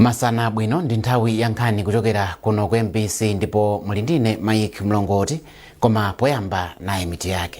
masana abwino ndi nthawi ya nkhani kuchokera kuno ku mbc ndipo muli ndine mike mlongoti koma poyamba nayi mitu yake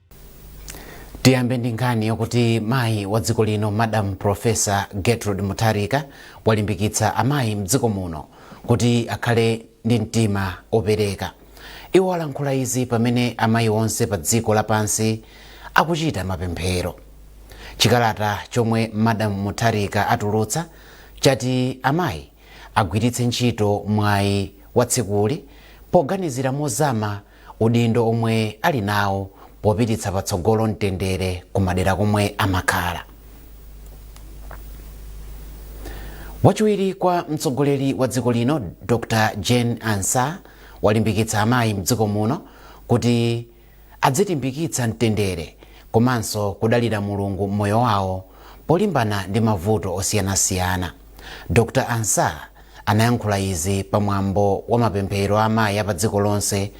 tiyambe ndi nkhani yokuti mayi wa dziko lino madam profesa gertrude mutharika walimbikitsa amayi mdziko muno kuti akhale ndi mtima opereka iwo alankhula izi pamene amayi onse pa dziko lapansi akuchita mapemphero chikalata chomwe madam mutharika atulutsa chati amayi agwiritse ntchito mwayi wa tsikuli poganizira mozama udindo omwe ali nawo popititsa patsogolo mtendere ku madera komwe amakhala. Wachiwiri kwa mtsogoleri wa dziko lino Dr Jane Ansah walimbikitsa amayi mdziko muno kuti adzilimbikitsa mtendere komanso kudalira Mulungu m'moyo wawo polimbana ndi mavuto osiyanasiyana. Dr Ansah Anayankhula izi pa mwambo wa mapemphero a amayi a pa dziko lonse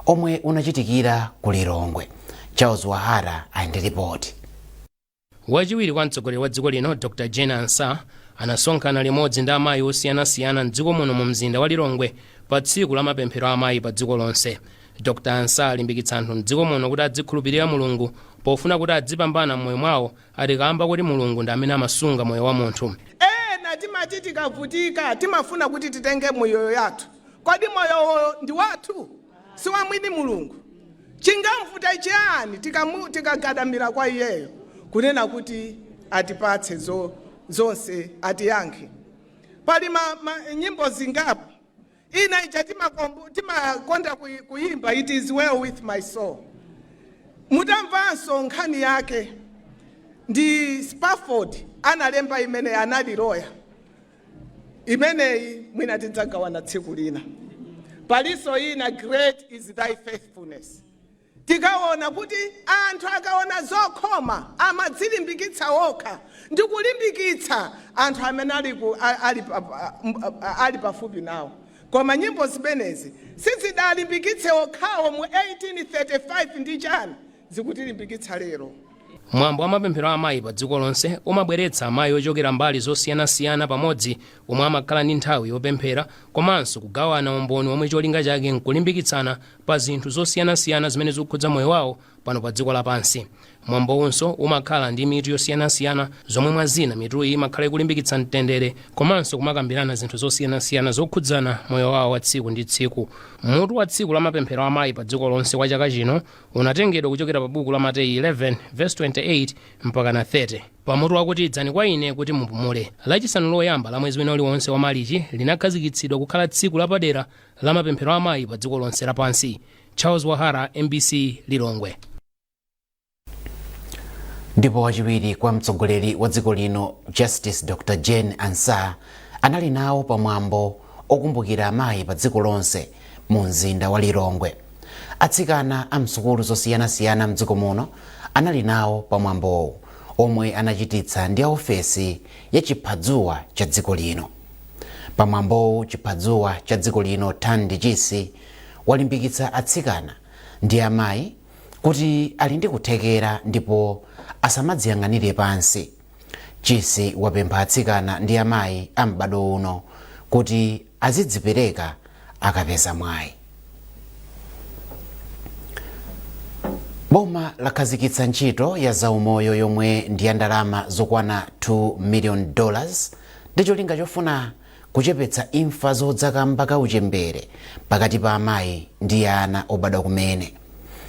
omwe unachitikira ku Lilongwe. Charles Wahara ali ndi lipoti. Wachiwiri kwa mtsogoleri wa dziko lino Dr Jane Ansah anasonkhana limodzi ndi amayi osiyanasiyana m'dziko muno mu mzinda wa Lilongwe pa tsiku la mapemphero a amayi pa dziko lonse. Dr Ansah alimbikitsa anthu m'dziko muno kuti adzikhulupirira Mulungu pofuna kuti adzipambana m'moyo mwawo ati kaamba koti Mulungu ndi amene amasunga moyo wa munthu. Ena timati tikavutika timafuna kuti titenge miyoyo yathu. Kodi moyowo ndi wathu? Si wa mwini Mulungu? Chingamvuta chiyani tikamu, tikagadamira kwa iyeyo kunena kuti atipatse zo, zonse, atiyankhe? Pali ma, ma, nyimbo zingapo Ina ija timakomb- timakonda kuyi- kuyimba it is well with my soul mutamvanso nkhani yake ndi spafford analemba imene anali loya imeneyi mwina tidzagawana tsiku lina palinso ina great is thy faithfulness Tikawona kuti anthu akawona zokhoma amadzilimbikitsa wokha ndi kulimbikitsa anthu amene ali ku, a, ali, pa, pa, m, a, a, ali pafupi nawo. Koma nyimbo zimenezi sizidalimbikitse okhawo mu 1835 ndi chani zikutilimbikitsa lero? Mwambo wa mapemphero a amayi pa dziko lonse umabweretsa amayi ochokera mbali zosiyanasiyana pamodzi omwe amakhala ndi nthawi yopemphera komanso kugawana umboni womwe cholinga chake nkulimbikitsana pa zinthu zosiyanasiyana zimene zikukhudza moyo wawo pano pa dziko lapansi mwambowunso umakhala ndi mitu yosiyanasiyana zomwe mwa zina mituyi imakhala ikulimbikitsa mtendere komanso kumakambirana zinthu zosiyanasiyana zokhudzana moyo wawo wa tsiku ndi tsiku mutu wa tsiku la mapemphero a amayi pa dziko lonse kwa chaka chino unatengedwa kuchokera pa buku la mateyu 11 verse 28 mpaka na 30 pamutu wakuti idzani kwa ine kuti mupumule lachisanu loyamba la mwezi wina uliwonse wa malichi linakhazikitsidwa kukhala tsiku lapadera la mapemphero a amayi pa dziko lonse lapansi charles wahara mbc lilongwe ndipo wachiwiri kwa mtsogoleri wa dziko lino justice dr jane ansah anali nawo pa mwambo okumbukira amayi pa dziko lonse mu mzinda wa lilongwe atsikana a msukulu zosiyanasiyana mdziko muno anali nawo pa mwambowu omwe anachititsa ndi a ofesi ya chiphadzuwa cha dziko lino pamwambowu chiphadzuwa cha dziko lino thandi chisi walimbikitsa atsikana ndi amayi kuti ali ndi kuthekera ndipo asamadziyang'anire pansi chisi wapempha atsikana ndi amayi a m'badwo uno kuti azidzipereka akapeza mwayi boma lakhazikitsa ntchito ya zaumoyo yomwe ndi ya ndalama zokwana 2 million dollars ndi cholinga chofuna kuchepetsa imfa zodza kamba ka uchembere pakati pa amayi ndi ana obadwa kumene.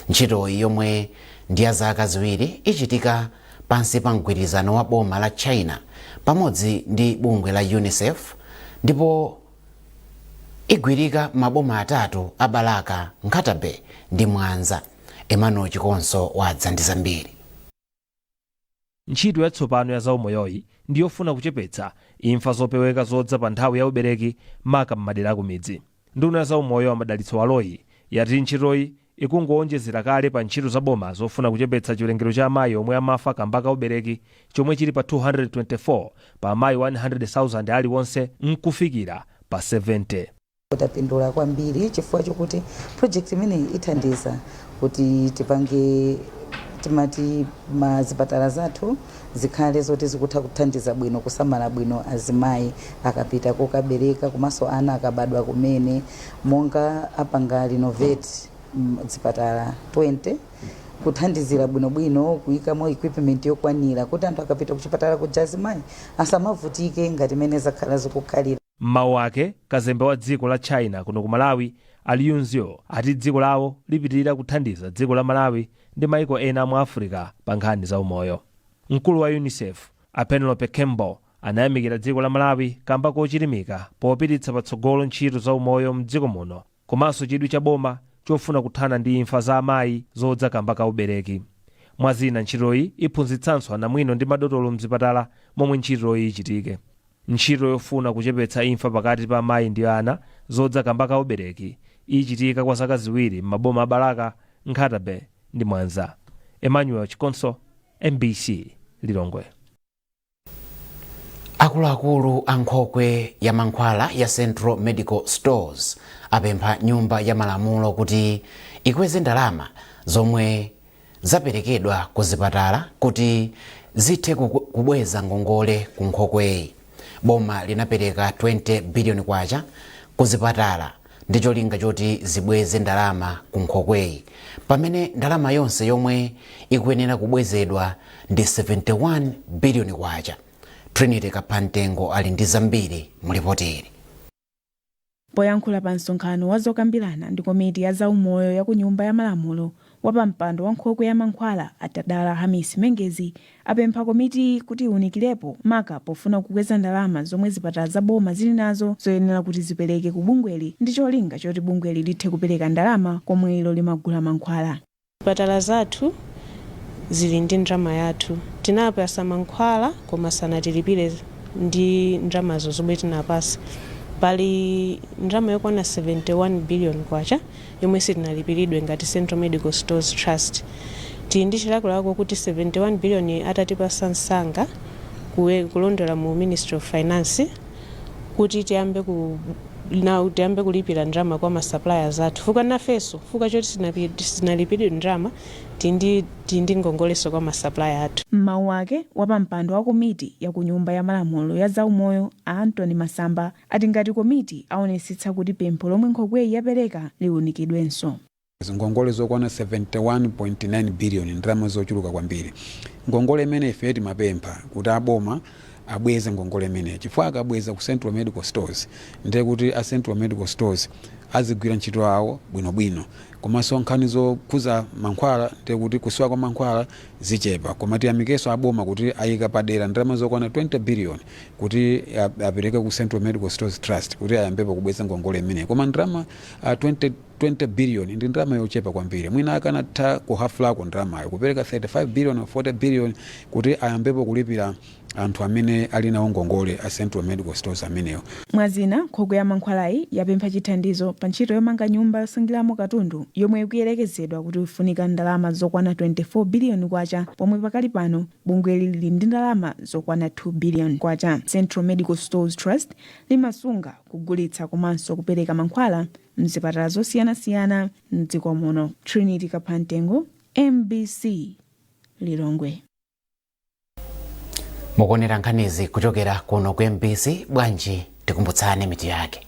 Ntchitoyi yomwe ndi ya zaka ziwiri ichitika pansi pa mgwirizano wa boma la China pamodzi ndi bungwe la UNICEF ndipo igwirika m'maboma atatu a Balaka, Nkhata Bay ndi Mwanza. Emmanuel Chikonso wadza ndi zambiri. Ntchito yatsopano ya zaumoyoyi ndi yofuna kuchepetsa imfa zopeweka zodza pa nthawi ya ubereki maka m'madera akumidzi. Nduna ya zaumoyo a Madalitso Baloyi yati ntchitoyi ikungowonjezera kale pa ntchito za boma zofuna kuchepetsa chiwerengero cha amayi omwe amafa kamba ka ubereki chomwe chili pa 224 pa amayi 100,000 aliwonse nkufikira pa 70. Tapindula kwambiri chifukwa chokuti project imeneyi ithandiza kuti tipange timati mazipatala zathu zikhale zoti zikutha kuthandiza bwino kusamala bwino azimayi akapita kukabereka komanso ana akabadwa kumene monga apanga renovate mm, zipatala 20 kuthandizira bwinobwino kuyikamo equipment yokwanira kuti anthu akapita kuchipatala kuja azimayi asamavutike ngati mene zakhala zikukhalira M'mawu ake, kazembe wa dziko la China kuno ku Malawi, a Lu Xu, ati dziko lawo lipitilira kuthandiza dziko la Malawi ndi maiko ena a mu Africa pa nkhani za umoyo. Mkulu wa Unicef, a Penelope Campbell, anayamikira dziko la Malawi kamba kochilimika popititsa patsogolo ntchito za umoyo m'dziko muno. komanso chidwi cha boma chofuna kuthana ndi imfa za amayi zodza kamba ka ubereki. Mwa zina ntchitoyi iphunzitsanso anamwino ndi madotolo mzipatala momwe ntchitoyi ichitike. Ntchito yofuna kuchepetsa imfa pakati pa amayi ndi ana zodza kamba ka ubereki ichitika kwa zaka ziwiri m'maboma a Balaka, Nkhata Bay ndi Mwanza. Emmanuel Chikonso, mbc, Lilongwe. akuluakulu a nkhokwe ya mankhwala ya central medical stores apempha nyumba ya malamulo kuti ikweze ndalama zomwe zaperekedwa ku zipatala kuti zithe kubweza ngongole ku nkhokweyi boma linapereka 20 biliyoni kwacha ku zipatala ndi cholinga choti zibweze ndalama ku nkhokweyi pamene ndalama yonse yomwe ikuyenera kubwezedwa ndi 71 biliyoni kwacha. Trinity Kaphamtengo ali ndi zambiri mu lipotili. Poyankhula pa msonkhano wa zokambirana ndi komiti ya zaumoyo ya ku Nyumba ya Malamulo Wapampando wa nkhokwe ya mankhwala a Tadala Hamisi Mengezi apempha komitiyi kuti iwunikilepo maka pofuna kukweza ndalama zomwe zipatala za boma zili nazo zoyenera kuti zipeleke ku bungweli ndi cholinga choti bungweli lithe kupeleka ndalama komwe ilo limagula mankhwala. Zipatala zathu zili ndi ndrama yathu. Tinapasa mankhwala koma sanatilipile ndi ndramazo zomwe tinapasa. Pali ndrama yokwana 71 billion kwacha. yomwe sitinalipiridwe ngati Central Medical Stores Trust tili ndi chilakolako kuti 71 billion atatipasa msanga kulondola mu Ministry of Finance kuti tiyambe kulipira ndrama kwa ma suppliers athu fuka nafeso fuka choti sinalipiridwe ndrama tindi ngongoleso kwa ma supplier athu M'mawu ake, wapampando wa komiti ya ku Nyumba ya Malamulo ya zaumoyo a Anthony Masamba ati ngati komiti aonetsetsa kuti pempho lomwe nkhokweyi yapereka liunikidwenso. Ngongole zokwana 71.9 billion ndrama zochuluka kwambiri. Ngongole imeneyi ifeyo timapempha kuti a boma abweze ngongole imeneyi chifukwa akabweza ku Central Medical Stores ndiye kuti a Central Medical Stores azigwira ntchito yawo bwinobwino komanso nkhani zokhuza mankhwala ndiye kuti kusowa kwa mankhwala zichepa koma tiyamikenso a boma kuti ayika padera ndalama zokwana 20 billion kuti apereke ku Central Medical Stores Trust kuti ayambepo kubweza ngongole imeneyi koma ndalama uh, 20 billion ndi ndalama yochepa kwambiri mwina akanatha kuhafulako ndalamayo kupereka 35 billion or 40 billion kuti ayambepo kulipira anthu amene ali nawo ngongole a Central Medical Stores amenewo Mwa zina, nkhokwe ya mankhwalayi yapempha chithandizo pa ntchito yomanga nyumba yosungiramo katundu yomwe ikuyerekezedwa kuti ifunika ndalama zokwana 24 biliyoni kwacha pomwe pakali pano Bungweli lili ndi ndalama zokwana K2 billion. Central Medical Stores Trust limasunga, kugulitsa komanso kupereka mankhwala m'zipatala zosiyanasiyana m'dziko muno. Trinity Kaphamtengo, mbc, Lilongwe. Mukuonera nkhanizi kuchokera kuno ku mbc, bwanji tikumbutsane mitu yake.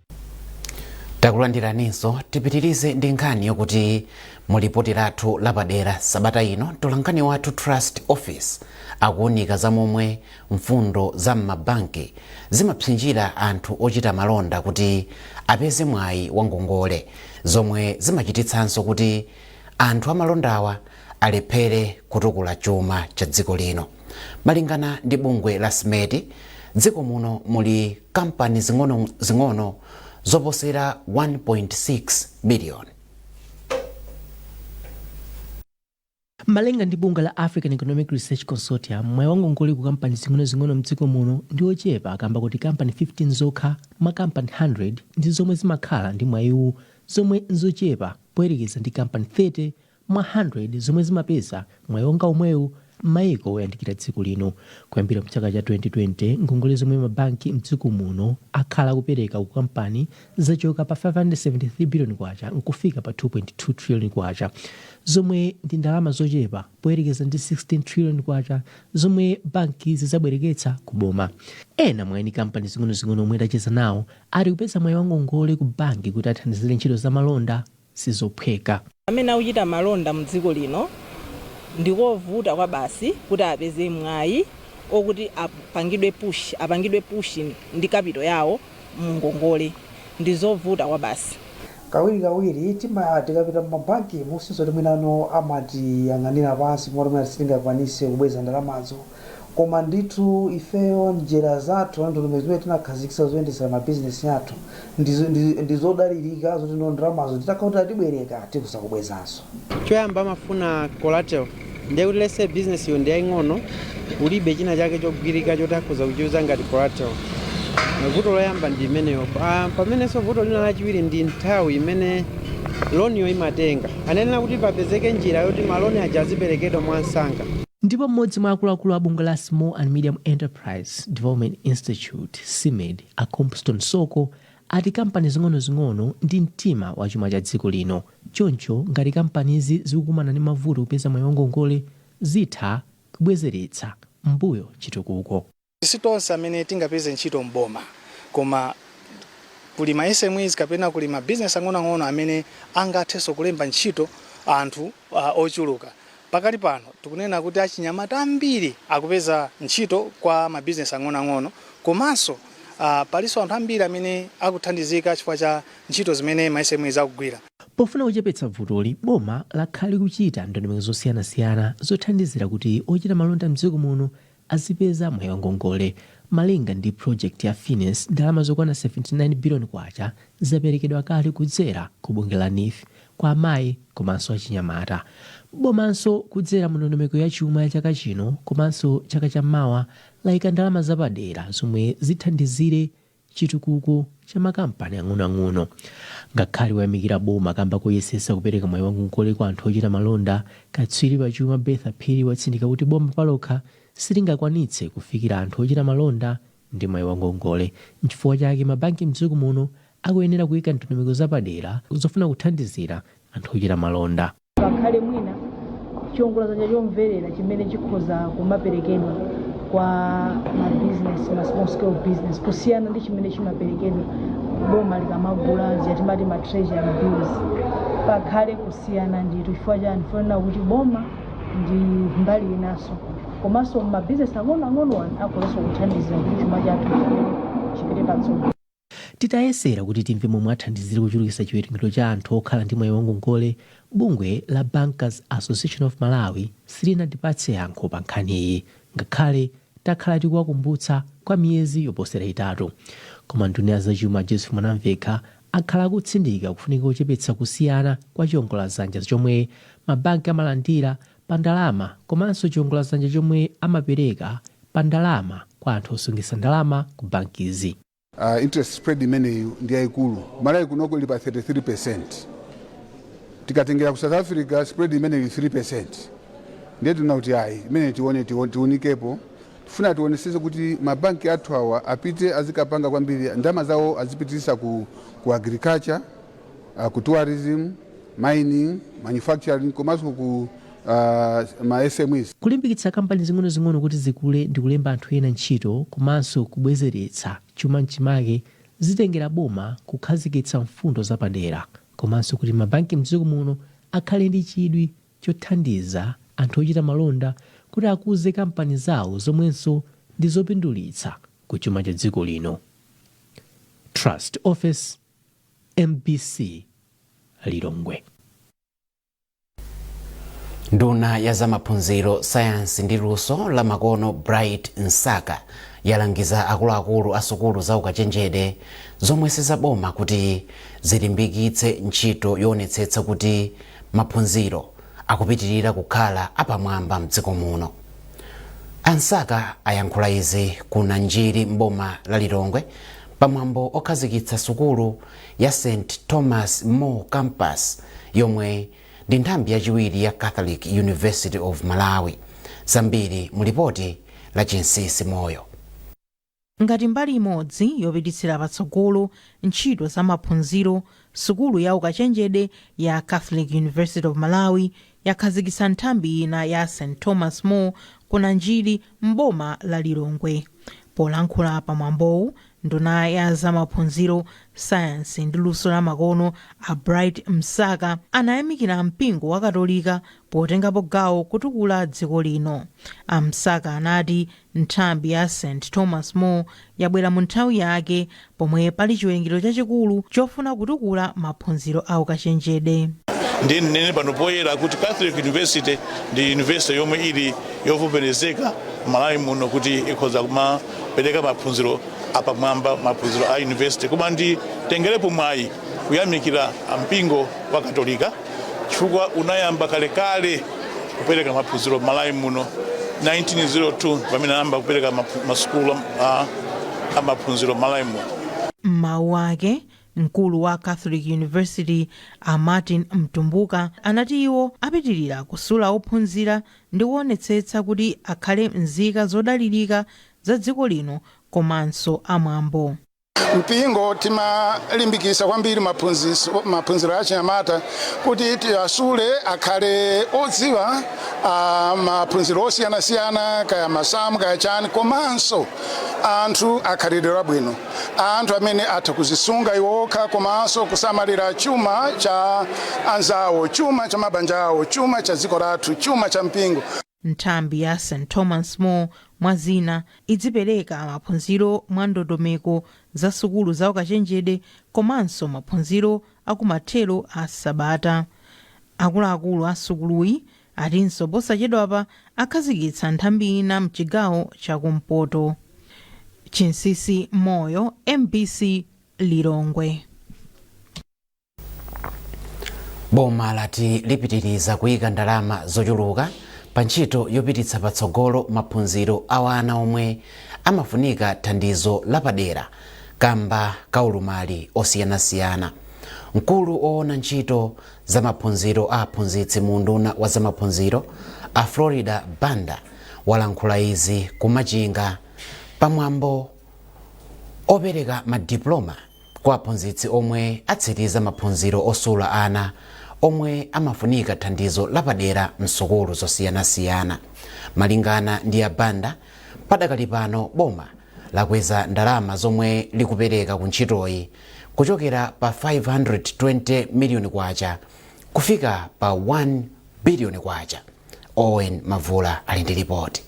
takulandiraninso tipitirize ndi nkhani yokuti mu lipoti lathu lapadera sabata ino mtolankhani wathu Trust Ofesi akuwunika za momwe mfundo za m'mabanki zimapsinjira anthu ochita malonda kuti apeze mwayi wa ngongole zomwe zimachititsanso kuti anthu amalondawa alephere kutukula chuma cha dziko lino. Malingana ndi bungwe la SMEDI, dziko muno muli kampani zing'ono zing'ono zoposera 1.6 biliyoni. Malinga ndi bungwe la African Economic Research Consortium, mwayi wa ngongole ku kampani zing'onozing'ono mdziko muno ndi wochepa kamba kuti kampani 15 zokha mwa kampani 100 ndi zomwe zimakhala ndi mwayiwu zomwe nzochepa poyerekeza ndi kampani 30 mwa 100 zomwe zimapeza mwayi wonga omwewu m'mayiko oyandikira dziko lino. Kuyambira mchaka cha 2020, ngongole zomwe ma banki mdziko muno akhala akupereka ku kampani zachoka pa K573 biliyoni nkufika pa K2.2 triliyoni zomwe ndi ndalama zochepa poyerekeza ndi K16 triliyoni zomwe bankizi zabwereketsa ku boma. Ena mwa eni kampani zing'onozing'ono omwe tacheza nawo ati kupeza mwayi wa ngongole ku banki kuti athandizire ntchito za malonda sizophweka. Amene akuchita malonda mu dziko lino ndikovuta kwabasi kuti apeze mwai okuti apangidwe push apangidwe push ndi capital yawo mu ngongole ndizovuta kwabasi. Kawiri kawiri tima tikapita mu ma banki mu nzoti mwinano amatiyang'anila pansi kumati mwina sitingakwanise kubweza ndalamazo. koma ndithu ifeyo njira zathu ndondomeko zimene tinakhazikitsa zoyendetsera mabizinesi athu ndizo- ndi- ndi zodalirika zoti ndo ndalamazo titakhala kuti atibwereka tikhoza kubwezanso choyamba amafuna collateral ndiye kuti mwinanso business yo ndiyaying'ono ulibe china chake chogwirika choti akhoza kuchiyuza ngati collateral vuto loyamba ndi imeneyo Ah, pamenenso vuto lina lachiwiri ndi nthawi imene loniyo imatenga Anayenera kuti papezeke njira yoti ma loan aja aziperekedwa mwamsanga. Ndipo m'modzi mwa akuluakulu a bungwe la Small and Medium Enterprise Development Institute, SMEDI, a Compston Soko ati kampani zing'onozing'ono ndi mtima wa chuma cha dziko lino choncho ngati kampanizi zikukumana ndi mavuto kupeza mwayi wa ngongole zitha kubwezeretsa m'mbuyo chitukuko. Si tonse amene tingapeze ntchito m'boma koma kuli ma SMEs kapena kuli ma business ang'onoang'ono amene angathenso kulemba ntchito anthu ochuluka. Pakali pano tikunena kuti achinyamata ambiri akupeza ntchito kwa ma business ang'onoang'ono komanso palinso anthu ambiri amene akuthandizika chifukwa cha ntchito zimene ma SMEs akugwira. Pofuna kuchepetsa vutoli, boma lakhala likuchita ndondomeko zosiyanasiyana zothandizira kuti ochita malonda m'dziko muno azipeza mwayi wa ngongole. Malinga ndi project ya Fines, ndalama zokwana 79 billion kwacha zaperekedwa kale kudzera ku bungwe la Neef kwa amayi komanso achinyamata. Bomanso kudzera mu ndondomeko ya chuma ya chaka chino komanso chaka cha mawa layika ndalama zapadera zomwe zithandizire chitukuko cha makampani ang'onoang'ono. Ngakhale wayamikira boma kamba koyesesa kupereka mwayi wa ngongole kwa anthu ochita malonda, katswiri pa chuma Bertha Phiri watsindika kuti boma palokha silingakwanitse kufikira anthu ochita malonda ndi mwayi wa ngongole nchifukwa chake mabanki mdziko muno akuyenera kuika ndondomeko zapadera zofuna kuthandizira anthu ochita malonda. pakhale mwina chiwongoladzanja chomverera chimene chikhoza kumaperekedwa kwa mabizinesi ma small scale business kusiyana ndi chimene chimaperekedwa boma likamagula zija timati ma treasury bills pakhale kusiyana ndithu chifukwa chani pofuna kuti boma ndi mbali inanso komanso mabizinesi ang'onoang'ono anthu akhoza kuthandizira kuti chuma chathu chipite patsogolo Titayesera kuti timve momwe athandizire kuchulukitsa chiwerengero cha anthu okhala ndi mwayi wa ngongole, bungwe la Bankers Association of Malawi silinatipatse yankho pa nkhaniyi ngakhale takhala tikuwakumbutsa kwa miyezi yoposera itatu. Koma nduna ya zachuma a Joseph Mwanamvekha akhala akutsindika kufunika kochepetsa kusiyana kwa chiongoladzanja chomwe mabanki amalandira pa ndalama komanso chiongoladzanja chomwe amapereka pa ndalama kwa anthu osungitsa ndalama ku bankizi. Uh, interest spread imeneyi ndi yaikulu malawi kunoko ili pa 33 percent tikatengera ku south africa spread imeneyi 3 percent ndiye tiona kuti ayi imeneyi tione tiunikepo tifuna tionesese kuti mabanki athu awa apite azikapanga kwambiri ndalama zawo azipitirisa ku, ku agriculture uh, ku tourism, mining, manufacturing komanso ku uh, ma SMEs. Kulimbikitsa kampani zing'onozing'ono kuti zikule ndi kulemba anthu ena ntchito komanso kubwezeretsa chuma mchimake zitengera boma kukhazikitsa mfundo zapadera komanso kuti mabanki mdziko muno akhale ndi chidwi chothandiza anthu ochita malonda kuti akuze kampani zawo zomwenso ndi zopindulitsa ku chuma cha dziko lino. Trust Office mbc lilongwe. Nduna ya zamaphunziro, sayansi ndi luso la makono Bright Msaka yalangiza akuluakulu a sukulu za ukachenjede zomwe sizaboma kuti zilimbikitse ntchito yoonetsetsa kuti maphunziro akupitirira kukhala apamwamba mdziko muno. A Msaka ayankhula izi ku Nanjiri m'boma la Lilongwe Pamwambo okhazikitsa sukulu ya St Thomas More Campus yomwe ndi nthambi yachiwiri ya Catholic University of Malawi. Zambiri mu lipoti la Chinsisi Moyo. Ngati mbali imodzi yopititsira patsogolo ntchito za maphunziro, sukulu ya ukachenjede ya Catholic University of Malawi yakhazikitsa nthambi ina ya St Thomas More ku Nanjiri m'boma la Lilongwe. Polankhula pa mwambowu, nduna ya za maphunziro, sayansi ndi luso la makono a Bright Msaka anayamikira mpingo wakatolika potengapo gawo kutukula dziko lino. A Msaka anati Nthambi ya St. Thomas More yabwera mu nthawi yake pomwe pali chiwerengero chachikulu chofuna kutukula maphunziro a ukachenjede. ndinene pano poyera kuti catholic university ndi university yomwe ili yovomerezeka malawi muno kuti ikhoza kumapereka maphunziro apamwamba maphunziro a university koma nditengerepo mwayi kuyamikira mpingo wa katolika chifukwa unayamba kalekale kupereka maphunziro m'malawi muno 1902 pamene anayamba kupereka maphu- masukulu a- a maphunziro m'malawi muno m'mawu ake mkulu wa catholic university a martin mtumbuka anati iwo apitirira kusula ophunzira ndi kuonetsetsa kuti akhale nzika zodalirika za dziko lino komanso amwambo mpingo timalimbikisa kwambiri maphunziso- maphunziro a achinyamata kuti tiwasule akhale odziwa ah, maphunziro osiyanasiyana kaya masamu kaya chani komanso anthu akhalidwe labwino anthu amene atha kuzisunga iwo okha komanso kusamalira chuma cha anzawo chuma cha mabanja awo chuma cha dziko lathu chuma cha mpingo Nthambi ya St. Thomas More, mwa zina, idzipereka maphunziro mwa ndondomeko za sukulu za ukachenjede komanso maphunziro a kumathero a sabata. Akuluakulu a sukuluyi atinso posachedwapa akhazikitsa nthambi ina mchigawo cha ku mpoto. Chinsisi Moyo, mbc, Lilongwe. boma lati lipitiriza kuyika ndalama zochuluka pa ntchito yopititsa patsogolo maphunziro a wana omwe amafunika thandizo lapadera kamba ka ulumali osiyanasiyana mkulu woona ntchito za maphunziro a aphunzitsi mu unduna wa zamaphunziro a florida banda walankhula izi kumachinga pamwambo opereka madiploma kwa aphunzitsi omwe atsiriza maphunziro osula ana omwe amafunika thandizo lapadera m'sukulu zosiyanasiyana. Malingana ndi a Banda, padakali pano boma lakweza ndalama zomwe likupereka ku ntchitoyi kuchokera pa 520 miliyoni kwacha kufika pa 1 biliyoni kwacha. Owen Mavula ali ndi lipoti.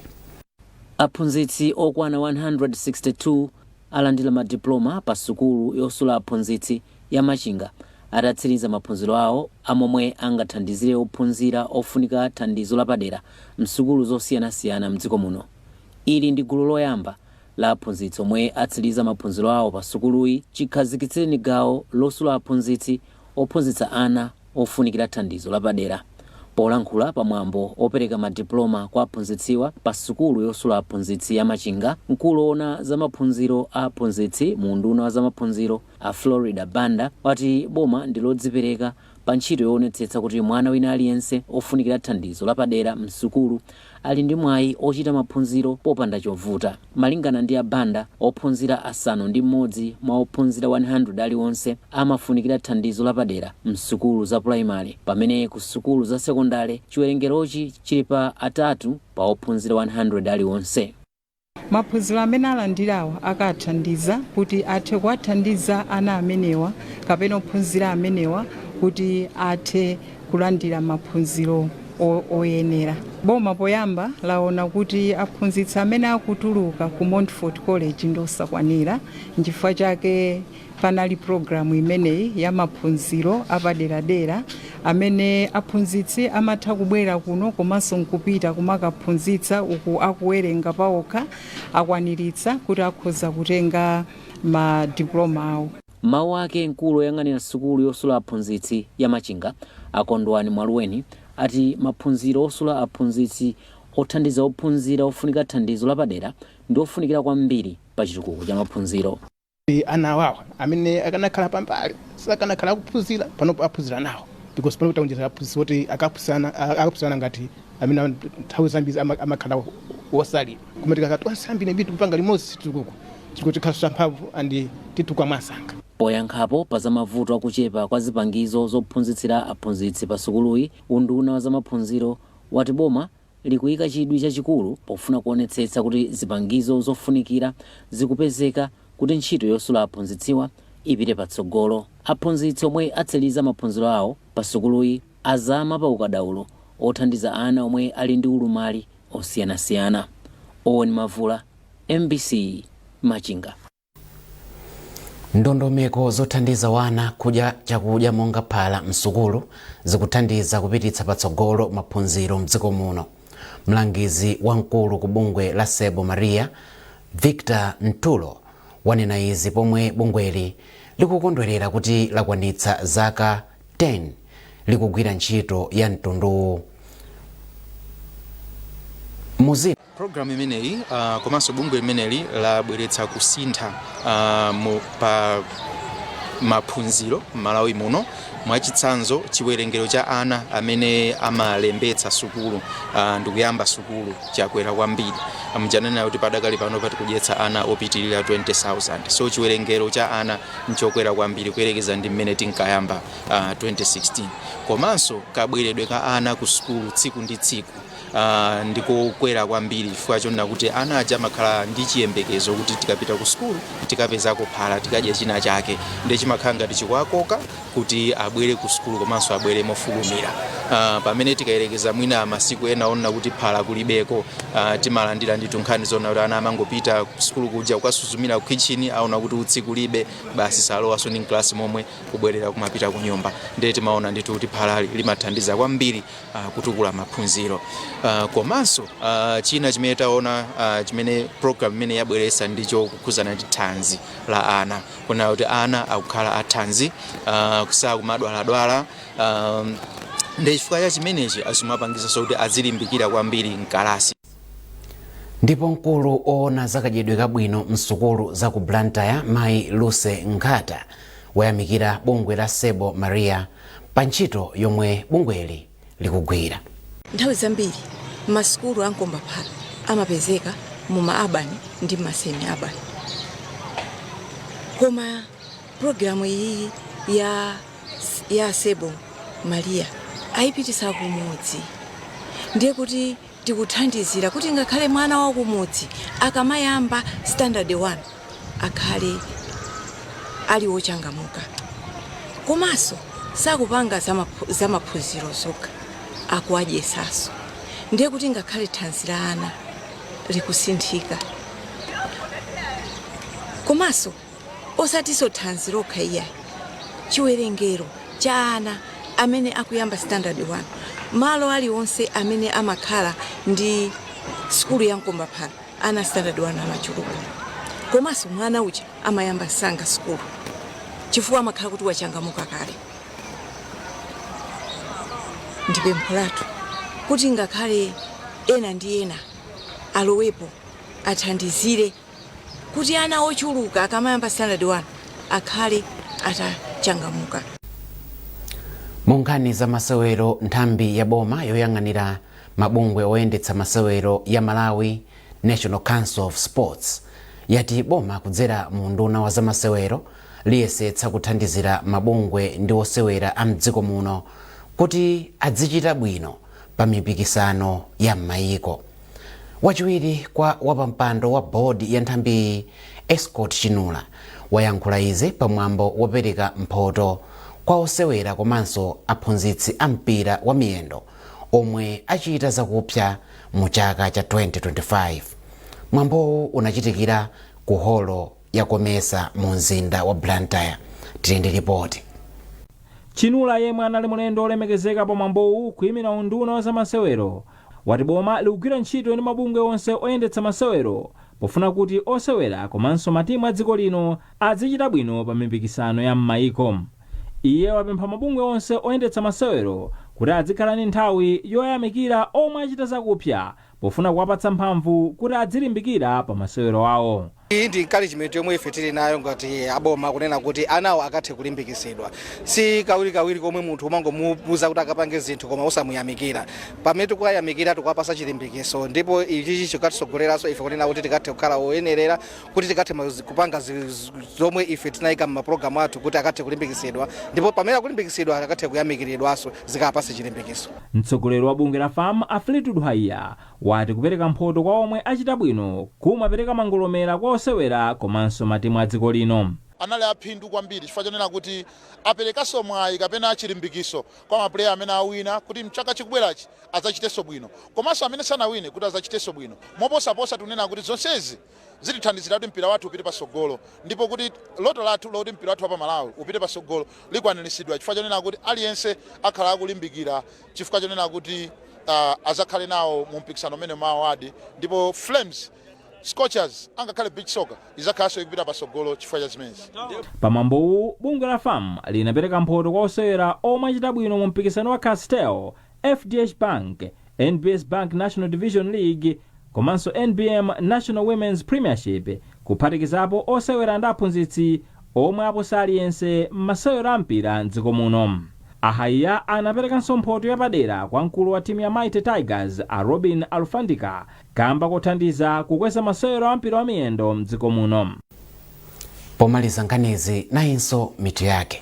aphunzitsi okwana 162 alandira ma diploma pa sukulu yosula aphunzitsi ya Machinga atatsiriza maphunziro awo a momwe angathandizire ophunzira ofunika thandizo lapadera msukulu zosiyanasiyana mdziko muno. Ili ndi gulu loyamba la aphunzitsi omwe atsiliza maphunziro awo pa sukuluyi chikhazikitsireni gawo losula aphunzitsi ophunzitsa ana ofunikira thandizo lapadera. Polankhula pa mwambo opereka ma diploma kwa aphunzitsiwa pa sukulu yosula aphunzitsi ya Machinga, mkulu owona za maphunziro a aphunzitsi mu unduna wa zamaphunziro a Florida Banda wati boma ndi lodzipereka pa ntchito yowonetsetsa kuti mwana wina aliyense ofunikira thandizo lapadera m'sukulu ali ndi mwayi ochita maphunziro popanda chovuta. Malingana ndi a Banda, ophunzira asanu ndi m'modzi mwa ophunzira 100 aliwonse amafunikira thandizo lapadera m'sukulu za pulayimale pamene ku sukulu za sekondale chiwerengerochi chili pa atatu pa ophunzira 100 aliwonse. Maphunziro amene alandirawa akawathandiza kuti athe kuwathandiza ana amenewa kapena ophunzira amenewa kuti athe kulandira maphunziro oyenera. Boma poyamba laona kuti aphunzitsi amene akutuluka ku Montfort College ndi osakwanira nchifukwa chake. Panali pulogalamu imeneyi ya maphunziro apaderadera amene aphunzitsi amatha kubwera kuno komanso nkupita kumakaphunzitsa uku akuwerenga paokha akwaniritsa kuti akhoza kutenga ma diploma awo. M'mawu ake mkulu oyang'anira sukulu yosula aphunzitsi ya Machinga a Kondwani Mwaluweni ati maphunziro osula aphunzitsi othandiza ophunzira ofunika thandizo lapadera ndi ofunikira kwambiri pa chitukuko cha maphunziro. ana awawa amene akanakhala pambali sakanakhala akuphunzira panopo aphunzira nawo because panopo taonjeza aphunzitsi oti akaphunzirana ngati amene am- nthawi zambiri ama- amakhala wosalira koma tikakhala tonse ambiri ambiri tikupanga limodzi situkuku chitukuko chikhala champhamvu and titukwa mwansanga Poyankhapo pa za mavuto akuchepa kwa zipangizo zophunzitsira aphunzitsi pa sukuluyi, unduna wa zamaphunziro wati boma likuika chidwi chachikulu pofuna kuonetsetsa kuti zipangizo zofunikira zikupezeka kuti ntchito yosula aphunzitsiwa ipite patsogolo. Aphunzitsi omwe atsiriza maphunziro awo pa sukuluyi azama pa ukadaulo othandiza ana omwe ali ndi ulumali osiyanasiyana. Owen Mavula, mbc, Machinga. ndondomeko zothandiza ana kudya chakudya monga phala msukulu zikuthandiza kupititsa patsogolo maphunziro mdziko muno mlangizi wamkulu ku bungwe la seibo maria victor nthulo wanena izi pomwe bungweli likukondwerera kuti lakwanitsa zaka 10 likugwira ntchito ya mtunduwu muzina Program imeneyi komanso bungwe limeneli labweretsa kusintha pa maphunziro m'Malawi muno. Mwachitsanzo, chiwerengero cha ana amene amalembetsa sukulu ndikuyamba sukulu chakwera kwambiri. Muja ndanena kuti padakali panopa tikudyetsa ana opitirira 20,000. So chiwerengero cha ana nchokwera kwambiri kuyerekeza ndi mmene tinkayamba 2016. Komanso kabweredwe ka ana kusukulu tsiku ndi tsiku. uh, ndikokwera kwambiri chifukwa chonena kuti ana aja amakhala ndi chiyembekezo kuti tikapita ku sukulu tikapezako phala tikadya china chake ndiye chimakhala ngati chikuwakoka kuti abwere ku sukulu komanso abwere mofulumira uh, pamene tikayerekeza mwina masiku ena onena kuti phala kulibeko uh, timalandira ndi tunkhani zona kuti ana amangopita ku sukulu kuja kukasuzumira ku kitchen aona kuti utsi kulibe basi salowanso ndi mklasi momwe kubwerera kumapita ku nyumba ndiye timaona ndithu kuti phala limathandiza kwambiri kutukula maphunziro komanso china chimene taona chimene program imeneyi yabweretsa ndicho kukhudzana ndi thanzi la ana kunena kuti ana akukhala athanzi sakumadwaladwala ndiye chifukwa cha chimenechi zimapangitsanso kuti azilimbikira kwambiri mkalasi ndipo mkulu oona zakadyedwe kabwino msukulu za ku blantyre mayi luse nkhata wayamikira bungwe la seibo maria pa ntchito yomwe bungweli likugwira. Nthawi zambiri ma sukulu a mkombaphala amapezeka mu ma urban ndi ma semi urban. Koma program iyi ya ya Seibo Maria ayipititsa kumudzi. Ndiye kuti Tikuthandizira kuti ngakhale mwana wa kumudzi akamayamba standard 1 akhale ali wochangamuka komanso sakupanga za maphunziro zokha, akuwadyesanso ndiye kuti ngakhale thanzi la ana likusinthika komanso. osatinso thanzi lokha iyayi chiwerengero cha ana amene akuyamba standard 1 malo aliwonse amene amakhala ndi sukulu ya mkombaphala ana standard 1 amachuluka komanso mwana uja amayamba msanga sukulu chifukwa amakhala kuti wachangamuka kale ndi pempho lathu kuti ngakhale ena ndi ena alowepo athandizire kuti ana ochuluka akamayamba standard 1 akhale atachangamuka. Mu nkhani za masewero, nthambi ya boma yoyang'anira mabungwe oyendetsa masewero ya Malawi National Council of Sports yati boma kudzera mu unduna wa zamasewero liyesetsa kuthandizira mabungwe ndi osewera a mdziko muno kuti adzichita bwino pa mipikisano ya m'mayiko. Wachiwiri kwa wapampando wa board ya nthambiyi Escort Chinula wayankhula izi pa mwambo wopereka mphoto kwa osewera komanso aphunzitsi a mpira wa miyendo omwe achita zakupsa mu chaka cha 2025. Mwambowu unachitikira ku holo ya Comesa mu mzinda wa Blantyre. Tili ndi lipoti. Chinula yemwe anali mlendo olemekezeka pa mwambowu kuimira unduna wa zamasewero wati boma likugwira ntchito ndi mabungwe onse oyendetsa masewero pofuna kuti osewera komanso matimu a dziko lino adzichita bwino pa mipikisano ya m'mayiko. Iye wapempha mabungwe onse oyendetsa masewero kuti adzikhala ndi nthawi yoyamikira omwe achita zakupsa pofuna kuwapatsa mphamvu kuti adzilimbikira pa masewero awo. Iyi ndi encouragement yomwe ife tili nayo ngati aboma kunena kuti anawo akathe kulimbikitsidwa. Si kawirikawiri komwe munthu umangomuuza kuti akapange zinthu koma osamuyamikira. Pamene tikuwayamikira tikuwapatsa chilimbikitso ndipo ichichi chikatitsogoleranso ife kunena kuti tikathe kukhala oyenerera kuti tikathe kupanga zomwe ife tinayika m'mapulogalamu athu kuti akathe kulimbikitsidwa ndipo pamene akulimbikitsidwa akathe kuyamikiridwanso zikawapatse chilimbikitso. Mtsogoleri wa bungwe la FAM a Fleetwood Haiya wati kupereka mphoto kwa omwe achita bwino kumapereka mangolomera kwa osewera komanso matimu a dziko lino. Anali a phindu kwambiri chifukwa chonena kuti aperekanso mwayi kapena chilimbikiso kwa mapuleya amene awina kuti mchaka chikubwerachi adzachitenso bwino komanso amene sanawine kuti adzachitenso bwino moposaposa. Tikunena kuti zonsezi zitithandizira kuti mpira wathu upite patsogolo ndipo kuti loto lathu loti mpira wathu wa pa Malawi upite patsogolo likwaniritsidwa chifukwa chonena kuti aliyense akhala akulimbikira chifukwa chonena kuti azakhale nawo mu mpikisano umene ma award ndipo Flames Scorchers angakhale beach soccer izakhalanso ikupita pasogolo chifukwa cha zimenezi. Pamwambowu, bungwe la FAM linapereka mphoto kwa osewera omwe achita bwino mu mpikisano wa Castel, FDH Bank, NBS Bank National Division League komanso NBM National Women's Premiership kuphatikizapo osewera ndi aphunzitsi omwe aposa aliyense mmasewero a mpira mdziko muno. A Haiya anaperekanso mphoto yapadera kwa mkulu wa timu ya Mighty Tigers a Robin Alufandika kamba kothandiza kukweza masewero a mpira wa miyendo mdziko muno. Pomaliza nkhanizi nayinso mitu yake.